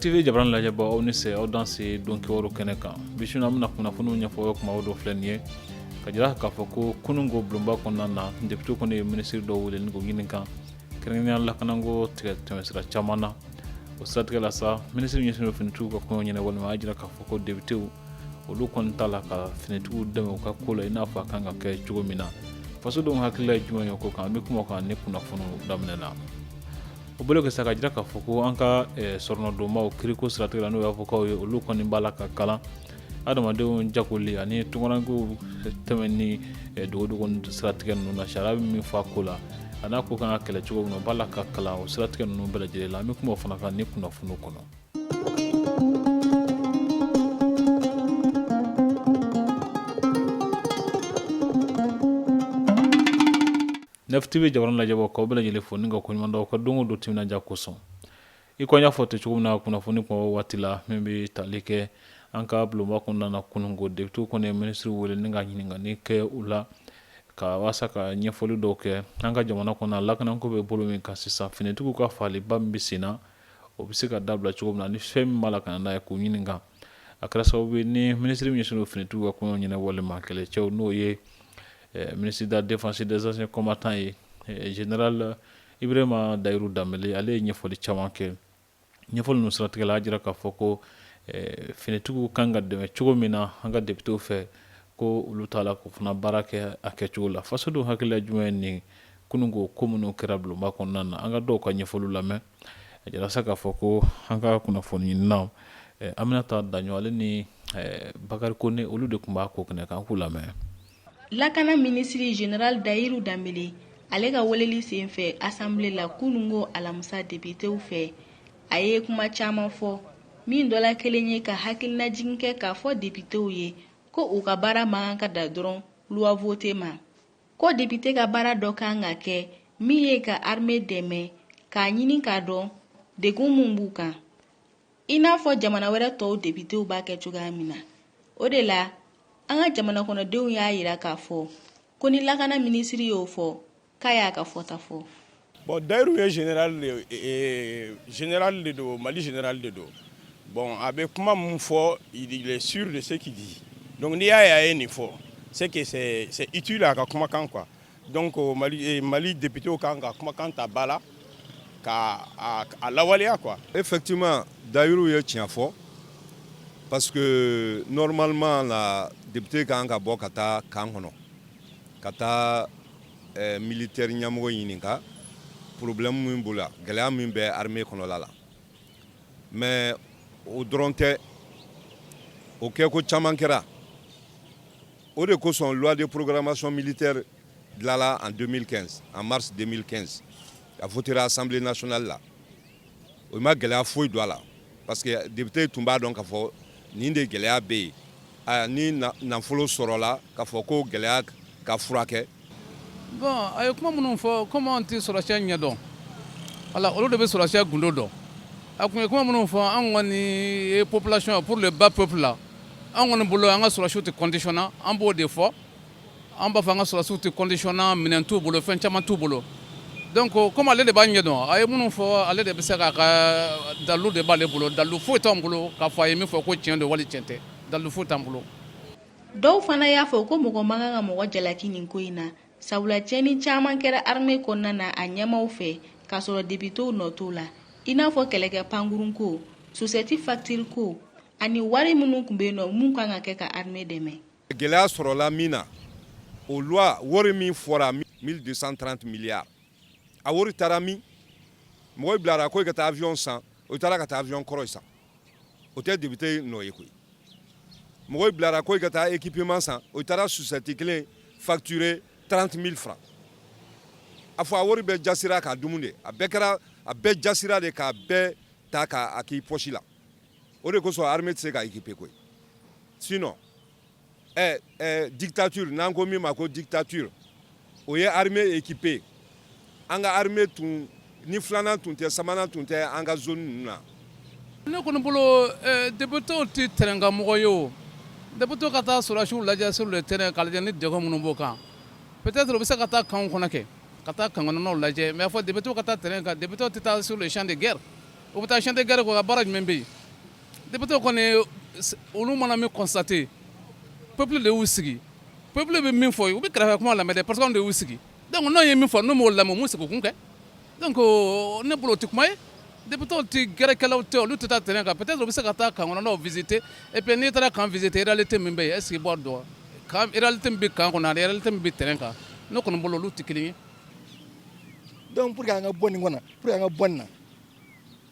tv jabarani lajɛbaaw aw ni se aw danse donkibaru kɛnɛ kan bi su in na an bɛna kunnafoniw ɲɛfɔ kuma o dɔ filɛ nin ye k'a jira k'a fɔ ko kununko bulonba kɔnɔna na depitew kɔni ye minisiri dɔw wele ni k'u ɲininka kɛrɛnkɛrɛnya lakanako tigɛ tɛmɛsira caman na o siratigɛ la sa minisiri ɲɛsinnen don finitigiw ka koɲɛ ɲɛnabɔli ma a jira k'a fɔ ko depitew olu kɔni t'a la ka finitigiw dɛmɛ u ka ko la i n'a fɔ a kan ka kɛ cogo min na fasodenw hakilila ye jumɛn ye ko kan an bɛ kuma a kan nin kunnafoni daminɛ na o bolo kɛ sa k'a jira k'a fɔ ko an ka eh, soronadonbaaw kiriko siratigɛ la n'o ye avokaw ye olu kɔni b'a la ka kalan adamadenw jagoli ani tunkarankew tɛmɛni eh, dogodogo siratigɛ ninnu na sariya bɛ min fɔ a ko la a n'a ko kan ka kɛlɛ cogo min na b'a la ka kalan o siratigɛ ninnu bɛɛ lajɛlen la an bɛ kuma o fana kan nin kunnafoniw kɔnɔ nɛf tv jabarani lajɛbaaw k'aw bɛɛ lajɛlen fo ni ka koɲuman dɔn aw ka don o don timinandiya kosɔn I ko an y'a fɔ ten cogo min na kunnafoni kuma bɔ waati la min bɛ tali kɛ an ka bulonba kɔnɔna kununko depitew kɔni ye minisiriw wele ni ka ɲininkali kɛ u la ka walasa sa ka ɲɛfɔli dɔw kɛ an ka jamana kɔnɔ lakanako bɛ bolo min kan sisan finitigiw ka faliba min bɛ sen na o bɛ se ka dabila cogo min na ni fɛn min b'a la ka na n'a ye k'u ɲininka a kɛra sababu ye ni minisiriri min ɲɛsinnen don finitigiw ka koɲɛ ɲɛnabɔli ma kɛlɛcɛw n'o ye ministre de la défense et des anciens combattants ye general Ibrahima Dayiru Danbɛlɛ ale ye ɲɛfɔli caman kɛ, ɲɛfɔli ninnu siratigɛ la a jira k'a fɔ ko ɛ finitigiw kan ka dɛmɛ cogo min na an ka depitew fɛ ko olu t'a la k'o fana baara kɛ a kɛcogo la fasodenw hakilila jumɛn ye nin kununko ko minnu kɛra bulonba kɔnɔna na an ka dɔw ka ɲɛfɔliw lamɛn a jira sa k'a fɔ ko an ka kunnafoni ɲininaw Aminata Daɲɔn ale ni Bakari Kone olu de tun b'a ko kɛnɛ kan an k'u lamɛn lakana minisiri general dayiru danbele ale ka weleli sen fɛ asanbile la kunun ko alamisa depitew fɛ a ye kuma caman fɔ min dɔ la kelen ye ka hakilinajigin kɛ k'a fɔ depitew ye ko u ka baara man kan ka dan dɔrɔn luwa vote ma ko depite ka baara dɔ kan ka kɛ min ye ka arme dɛmɛ k'a ɲini k'a dɔn degun min b'u kan i n'a fɔ jamana wɛrɛ tɔw depitew b'a kɛ cogoya min na o de la an ka jamana kɔnɔdenw y'a yira k'a fɔ ko ni lakana minisiri y'o fɔ k'a y'a ka fɔta fɔ bon dayiru ye general de e, e, general de don mali general de don bon a bɛ kuma min fɔ il est sûr de ce qu'il dit donc n'i y'a ye a ye nin fɔ c'est que c'est utile a ka kumakan quoi Donc Mali députéw kan ka kumakan ta ba la ka a lawaleya quoi effectivement Dayiru ye tiɲɛ fɔ parce que normalement la député kan ka bɔ ka taa kan kɔnɔ ka taa militaire ɲɛmɔgɔ ɲininka problème min b'o la gɛlɛya min bɛ armée kɔnɔla la mais o dɔrɔn tɛ o kɛ ko caman kɛra o de kosɔn loi de programmation militaire dilanla en 2015 en mars 2015 a votera assemblée nationale la o ma gɛlɛya foyi don a la parce que député tun b'a dɔn k'a fɔ nin de gɛlɛya bɛ yen ni nafolo sɔrɔla k'a fɔ ko gɛlɛya ka furakɛ Bon a ye kuma minnu fɔ kɔmi an tɛ sɔrɔsiya ɲɛ dɔn wala olu de bɛ sɔrɔsiya gundo dɔn a tun ye kuma minnu fɔ an kɔni ye population pour le bas peuple la an kɔni bolo an ka sɔrɔsiw tɛ conditionné an b'o de fɔ an b'a fɔ an ka sɔrɔsiw tɛ conditionné minɛn t'u bolo fɛn caman t'u bolo donc kɔmi ale de b'a ɲɛ dɔn a ye minnu fɔ ale de bɛ se k'a ka dalu de b'ale bolo dalu foyi t'an bolo k'a fɔ a ye min fɔ ko cɛn don wali cɛn tɛ dalu foyi t'an bolo Dɔw fana y'a fɔ ko mɔgɔ man kan ka mɔgɔ jalaki nin ko in na sabula cɛni caman kɛra armée kɔnɔna na a ɲɛmaaw fɛ k'a sɔrɔ depitew nɔ t'o la i n'a fɔ kɛlɛkɛ pankurun ko sosɛti faktiri ko ani wari minnu tun bɛ yen nɔ min kan ka kɛ ka armée dɛmɛ gɛlɛya sɔrɔla min na o loi wari min fɔra 1230 milliards a wari taara min mɔgɔw bilara ko i ka taa avion san o taara ka taa avion kɔrɔ san o tɛ député nɔ ye koyi mɔgɔw bilara ko i ka taa équipement san o taara sosɛti kelen facturer trente mille francs a fɔ a wari bɛɛ jasira k'a dumu de a bɛɛ kɛra a bɛɛ jasira de k'a bɛɛ ta k'a k'i pɔsi la o de kosɔn armée tɛ se ka équiper koyi sinon ɛ ɛ dictature n'an ko min ma ko dictature o ye armée équiper an ka armée tun ni filanan tun tɛ sabanan tun tɛ an ka zone ninnu na. ne kɔni bolo eh, depitew tɛ tɛrɛnkan mɔgɔ ye o depitew ka taa sɔrɔdasiw lajɛ sur le terrain ka lajɛ ni degun minnu b'o kan peut-être u bɛ se ka taa kanw kɔnɔ kɛ ka taa kan kɔnɔnaw lajɛ mais a fɔ depitew ka taa terrain kan depitew tɛ taa sur le champ de guerre u bɛ taa champ de guerre k'o ka baara jumɛn bɛ yen Député kɔni olu mana min constater peuple de y'u sigi peuple bɛ min fɔ u bɛ kɛrɛfɛ kuma lamɛn dɛ parce que anw de y'u sigi donc n'anw ye min fɔ n'u m'o lamɛn u m'u sigi u kun kɛ donc ne bolo o tɛ kuma ye député tɛ gɛrɛkɛlaw tɛ olu tɛ taa terrain kan peut-être u bɛ se ka taa kan kɔnɔnaw visiter et puis n'i taara kan visiter réalité min bɛ yen est-ce que i b'a dɔn wa kan réalité min bɛ kan kɔnɔ ani réalité min bɛ terrain kan ne kɔni bolo olu tɛ kelen ye donc pour que an ka bɔ nin kɔnɔ pour que an ka bɔ nin na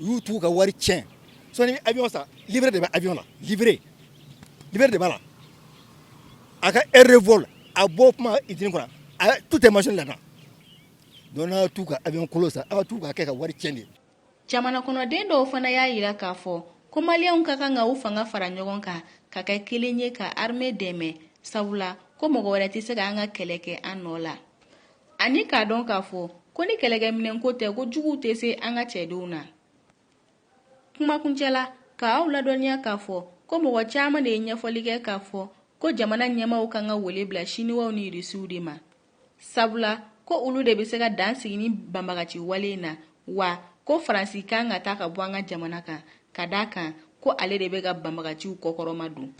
y'u tugu ka wari tiɲɛ sinon n'i bɛ avion san livret de bɛ avion na livret de b'a la a ka heure de vol a bɔ kuma usine kɔnɔ a tout est mentionné là-dedans donc n'a tugu ka avion kolon san aw tugu ka kɛ ka wari tiɲɛ de jamana kɔnɔden dɔw fana y'a yira k'a fɔ ko maliyɛnw ka kan ka u fanga fara ɲɔgɔn kan ka kɛ kelen ye ka armée dɛmɛ sabula ko mɔgɔ wɛrɛ tɛ se ka an ka kɛlɛ kɛ an nɔ la Ani k'a dɔn k'a fɔ ko ni kɛlɛkɛminɛnko tɛ ko juguw tɛ se an ka cɛdenw na kuma kuncɛ la k'aw ladɔnniya k'a fɔ ko mɔgɔ caman de ye ɲɛfɔli kɛ k'a fɔ ko jamana ɲɛmaaw kan ka wele bila siniwaw ni irisiw de ma sabula ko olu de bɛ se ka dan sigi nin banbagaci wale in na wa ko faransi kan ka taa ka bɔ an ka jamana kan ka d'a kan ko ale de bɛ ka banbagaciw kɔkɔrɔma don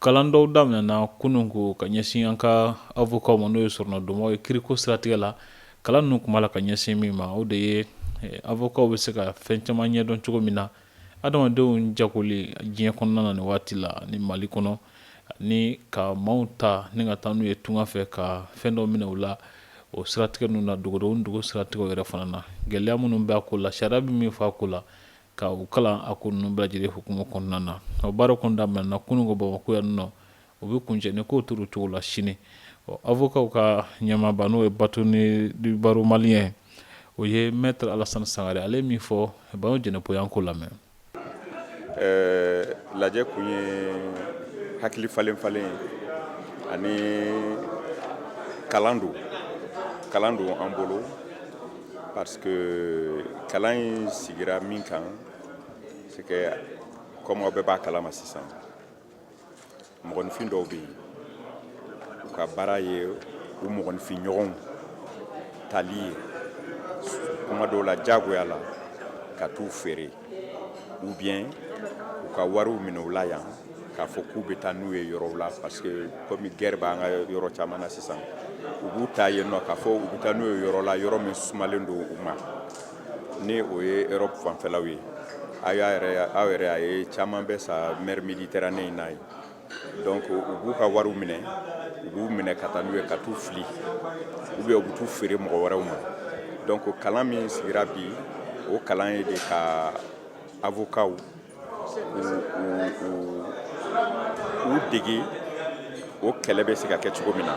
kalan dɔw daminɛna kunun ko ka ɲɛsin an ka avokaw ma n'o ye soronadonnaw ye kiriko siratigɛ la kalan ninnu tun b'a la ka ɲɛsin min ma o de ye eh, avokaw bɛ se ka fɛn caman ɲɛdɔn cogo min na adamadenw jagoli diɲɛ kɔnɔna na nin waati la ni mali kɔnɔ ni ka maaw ta ni ka taa n'u ye tunga fɛ ka fɛn dɔ minɛ u la o siratigɛ ninnu na dogodenw dugu siratigɛw yɛrɛ fana na gɛlɛya minnu b'a ko la sariya bɛ min fɔ a ko la ka u kalan a ko ninnu bɛɛ lajɛlen hukumu kɔnɔna na o baara kun daminɛna kunun ko bamakɔ yan nɔ u bɛ kuncɛ ni kow tora u cogo la sini ɔ avokaw ka ɲɛmaaba n'o ye bâtonnier du barreau malien o ye maître alassane sangare ale min fɔ banu jɛnɛpo y'an k'o lamɛn lajɛ kun ye hakili falen falen ye ani kalan don kalan don an bolo parce que kalan in sigira min kan c'est que comme aw bɛɛ b'a kalama sisan mɔgɔninfin dɔw bɛ yen u ka baara ye u mɔgɔninfin ɲɔgɔnw tali ye kuma dɔw la diyagoya la ka t'u feere ou bien u ka wariw minɛ u la yan k'a fɔ k'u bɛ taa n'u ye yɔrɔw la parce que comme guerre b'an ka yɔrɔ caman na sisan u b'u ta yen nɔ k'a fɔ u bɛ taa n'u ye yɔrɔ la yɔrɔ min sumalen don u ma ni o ye europe fanfɛlaw ye aw yɛrɛ aw yɛrɛ a ye caman bɛ sa mer méditerranée in na yen donc u b'u ka wariw minɛ u b'u minɛ ka taa n'u ye ka t'u fili ou bien u bɛ t'u feere mɔgɔ wɛrɛw ma donc kalan min sigira bi o kalan ye de ka avokaw u dege o kɛlɛ bɛ se ka kɛ cogo min na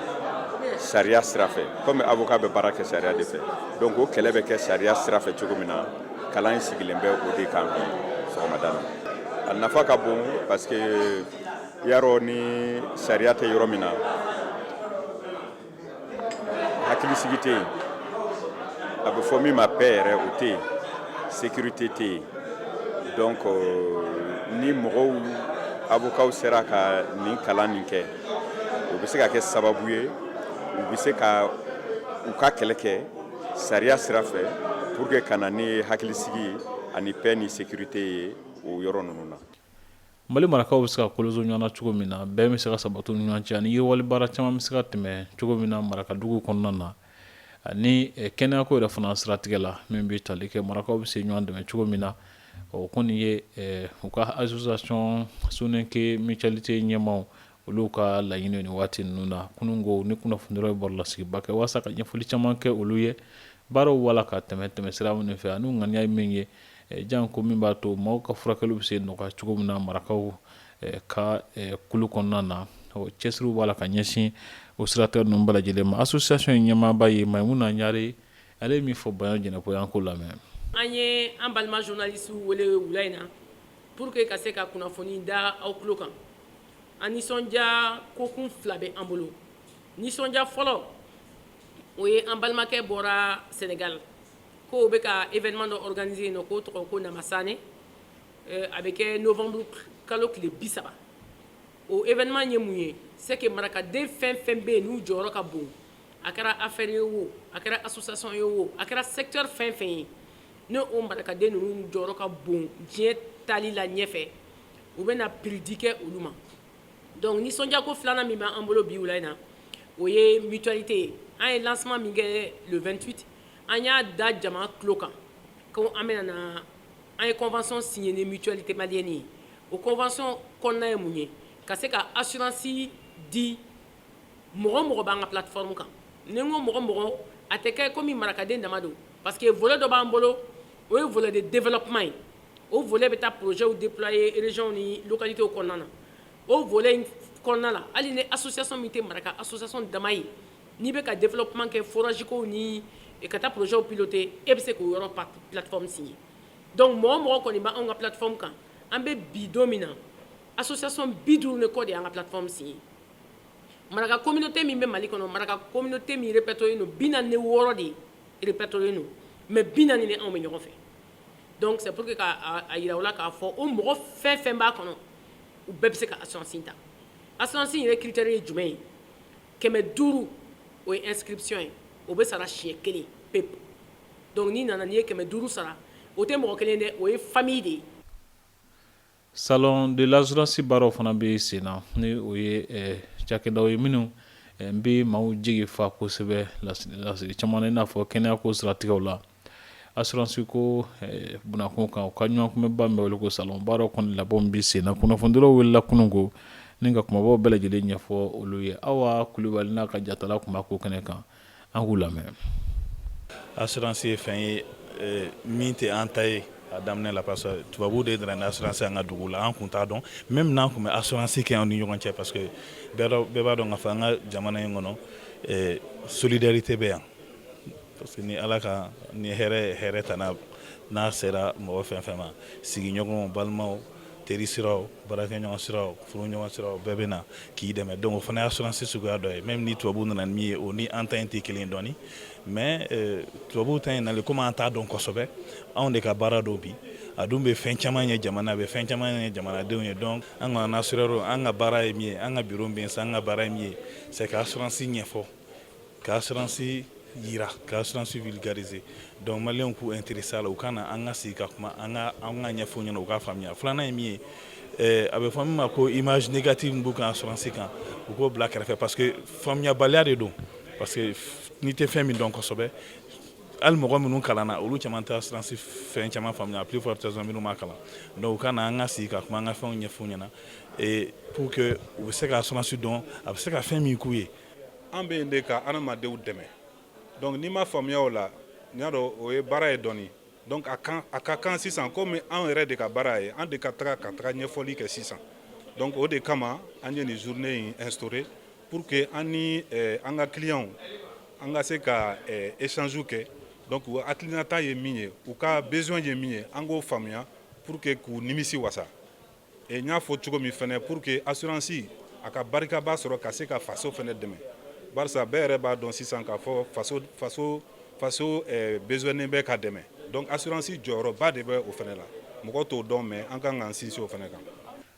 sariya sira fɛ comme avoka bɛ baara kɛ sariya de fɛ donc o kɛlɛ bɛ kɛ sariya sira fɛ cogo min na kalan in sigilen bɛ o de kan bi sɔgɔmada na a nafa ka bon parce que yarɔ ni sariya tɛ yɔrɔ min na hakilisigi tɛ yen a bɛ fɔ min ma paix yɛrɛ o tɛ yen sécurité tɛ yen donc euh, ni mɔgɔw avocats sera ka nin kalan nin kɛ o bɛ se ka kɛ sababu ye u bɛ se ka u ka kɛlɛ kɛ sariya sira fɛ pour que ka na ni hakilisigi ye ani paix ni sécurité ye o yɔrɔ ninnu na mali marakaw bɛ se ka koloso ɲɔgɔn na cogo min na bɛɛ bɛ se ka sabati ni ɲɔgɔn cɛ ani yiriwali baara caman bɛ se ka tɛmɛ cogo min na marakadugu kɔnɔna na ani eh, kɛnɛyako yɛrɛ fana siratigɛ la min bɛ tali kɛ marakaw bɛ se ɲɔgɔn dɛmɛ cogo min na o kɔni ye eh, u ka association soninke mutualité ɲɛmaaw Olu ka laɲini ni waati ninnu na kunun ko ni kunnafonidilaw bɔra lasigiba kɛ walasa ka ɲɛfɔli caman kɛ olu ye baaraw b'a la ka tɛmɛ tɛmɛ sira minnu fɛ ani ŋaniya ye min ye janko min b'a to maaw ka furakɛli bɛ se nɔgɔya cogo min na marakaw ka kulu kɔnɔna na cɛsiriw b'a la ka ɲɛsin o siratigɛ ninnu bɛɛ lajɛlen ma association in ɲɛmaaba ye Mayimuna Ɲare ale ye min fɔ Bayan Jɛnɛpo y'an k'o lamɛn an ye an balima journalistes wele wula in na pour que ka se ka kunnafoni da aw tulo kan an nisɔndiya kokun fila bɛ an bolo nisɔndiya fɔlɔ o ye an balimakɛ bɔra sɛnɛgali k'o bɛ ka événement dɔ organiser yen nɔ k'o tɔgɔ ko Namasane a bɛ kɛ novembre kalo tile bi saba o événement ye mun ye c'est que marakaden fɛn fɛn bɛ yen n'u jɔyɔrɔ ka bon a kɛra affaire ye wo a kɛra association ye wo a kɛra secteur fɛn fɛn ye ni o marakaden ninnu jɔyɔrɔ ka bon diɲɛ taali la ɲɛfɛ u bɛ na prix di kɛ olu ma donc nisɔndiya ko filanan min b'an bolo bi wula in na o ye mutualité ye an ye lancement min kɛ le 28 an y'a da jama tulo kan ko an bɛ na an ye convention signer ni mutualité malienne ye o convention kɔnɔna ye mun ye ka se ka assurance di mɔgɔ o mɔgɔ b'an ka plateforme kan ni n ko mɔgɔ o mɔgɔ a tɛ kɛ komi marakaden dama don parce que volet dɔ b'an bolo o ye volet de développement ye o volet bɛ taa projets deployer régions ni localités kɔnɔna na, o volet in kɔnɔna na hali ni association min tɛ maraka association dama ye n'i bɛ ka développement kɛ forage kow ni ka taa projets piloter e bɛ se k'o yɔrɔ plateforme signer donc mɔgɔ o mɔgɔ kɔni bɛ anw ka plateforme kan an bɛ bi don min na association 50 ni kɔ de y'an ka plateforme signer maraka communauté min bɛ Mali kɔnɔ maraka communauté min répertorier len don 46 de répertorier len don mais 40 ni anw bɛ ɲɔgɔn fɛ donc c'est pour que k'a yira u la k'a fɔ o mɔgɔ fɛn fɛn b'a kɔnɔ u bɛɛ bɛ se ka assurance ta assurance yɛrɛ critère ye jumɛn ye kɛmɛ duuru o ye inscription ye o bɛ sara siɲɛ kelen pe donc n'i nana n'i ye kɛmɛ duuru sara o tɛ mɔgɔ kelen dɛ o ye famille de ye Salon de l'assurance baaraw fana bɛ sen na ni o ye cakɛdaw ye minnu bɛ maaw jigi fa kosɛbɛ nasira caman na i n'a fɔ kɛnɛya ko siratigɛw la assurance ko b'u kun kan u ka ɲɔgɔnkunbɛnba min bɛ wele ko salon baaraw kɔni labɛnw bɛ sen na kunnafonidilaw welela kunun ko nin ka kumabaw bɛɛ lajɛlen ɲɛfɔ olu ye Awa Kulibali n'a ka jatala tun b'a ko kɛnɛ kan an k'u lamɛn assurance ye fɛn ye min tɛ an ta ye a daminɛ la parce que tubabu de nana ni assurance an ka dugu la an tun t'a dɔn même n'an tun bɛ assurance kɛ an ni ɲɔgɔn cɛ parce que bɛɛ b'a dɔn k'a fɔ an ka jamana in kɔnɔ solidarité bɛ yan parce que ni ala ka ni hɛrɛ tana n'a sera mɔgɔ fɛn fɛn ma sigiɲɔgɔn balimaw teri sira baarakɛ ɲɔgɔn sira furu ɲɔgɔn sira bɛɛ bɛ na k'i dɛmɛ donc o fana ye assurance suguya dɔ ye même ni tubabu nana ni min ye o ni an ta in tɛ kelen dɔɔnin mais eh, tubabu ta in nalen komi an t'a dɔn kosɛbɛ anw de ka baara don bi a dun bɛ fɛn caman ɲɛ jamana bɛ fɛn caman ɲɛ jamanadenw ye donc an ka assureur an ka baara ye min ye an ka biro bɛ san an ka baara ye min ye c'est ka assurance ɲɛfɔ Ka assurance jira ka assurance vulgariser donc maliens k'u intéresser a la u ka na an ka sigi ka kuma an ka an k'a ɲɛfɔ ɲɛna u k'a faamuya filanan ye min ye a bɛ fɔ min ma ko image négative min b'u kan assurance kan u k'o bila kɛrɛfɛ parce que faamuyabaliya de don parce que n'i tɛ fɛn min dɔn kosɛbɛ ali mɔgɔ minnu kalanna olu caman tɛ assurance fɛn caman faamuya à plus forte raison minnu ma kalan donc u ka na an ka sigi ka kuma an ka fɛnw ɲɛfɔ ɲɛna pour que u bɛ se ka assurance dɔn a bɛ se ka fɛn min k'u ye an bɛ yen de ka adamadenw dɛmɛ donc n'i ma faamuya o la n y'a dɔn o ye baara ye dɔɔni donc a kan a ka kan sisan komi anw yɛrɛ de ka baara ye an de ka taga ka taga ɲɛfɔli kɛ sisan donc o de kama an ye nin journée in instaurer pour que an ni eh, an ka clients an ka se ka eh, échange kɛ donc u hakilinata ye min ye u ka besoin ye min ye an k'o faamuya pour que k'u nimisi wasa E n y'a fɔ cogo min fɛnɛ pour que assurance a ka barikaba sɔrɔ ka se ka faso fɛnɛ dɛmɛ barisa bɛɛ yɛrɛ b'a dɔn sisan k'a fɔ faso faso faso eh, besoinen bɛ ka dɛmɛ donc assurance jɔyɔrɔba de bɛ o fɛnɛ la mɔgɔ t'o dɔn mais an kan k'an sinsin o fɛnɛ kan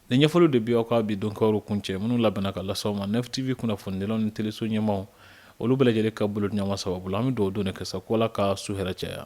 Nin ɲɛfɔliw de bi aw ka bi donkibaruw kuncɛ minnu labɛnna ka lase aw ma Nef TV kunnafonidilaw ni teleso ɲɛmaaw olu bɛɛ lajɛlen ka bolodiɲɔgɔnma sababu la an bɛ dugawu don de kɛ sa ko Ala ka su hɛrɛ caya.